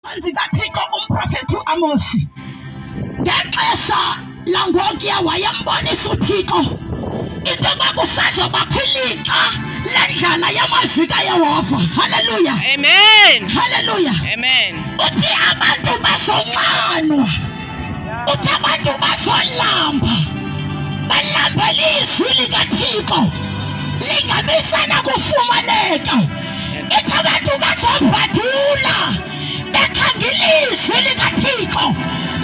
Phantsi kaThixo umprofeti uAmosi ngexesha langokuya wayembonisa uThixo into yoba kusazobakho ilixa lendlala yamazwi kayehova halleluya amen halleluya amen uthi abantu bazonxanwa uthi abantu bazolamba balambela izwi likathixo lingabisana kufumaneka ithi abantu bazobhadula bekhanga ilizwi likathixo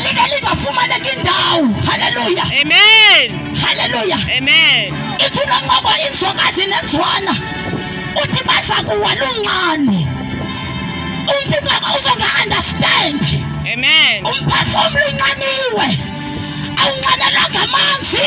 libe lingafumaneki indawo haleluya amen haleluya amen ithi unoncoko inzokazi nenzwana uthi baza kuwa lunxano umntu ingaba uzonga-understand amen umphefumlo unxaniwe awunxanelanga amanzi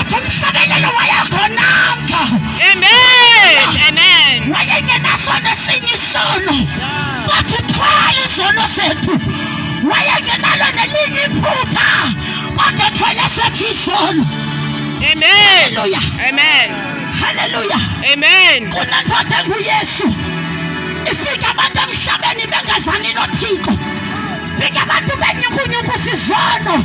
otomsabelelo wayagonanga wayengenasono esinye isono kodwa uthwala izono zethu wayengenalo nelinye iphutha kodwa thwele sethu isono Amen. Hallelujah. Amen. Hallelujah. Amen. Kunendoda enguYesu. Ifika abantu emhlabeni bengazani noThixo. Fika abantu benyukunyuku sizono.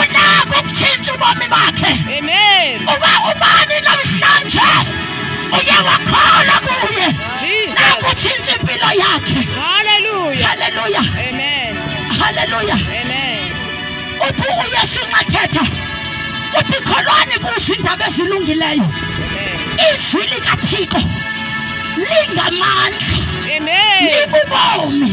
unako ukutshintsha ubomi bakhe Amen. uba ubani namhlanje uye wakhola kuye Jesus. nakutshintsha impilo yakhe Hallelujah. haleluya Amen. haleluya Amen. uthi uyesu nxa thetha uthi kholwani kuzo iindaba ezilungileyo Amen. izwi likathixo lingamandla Amen. libubomi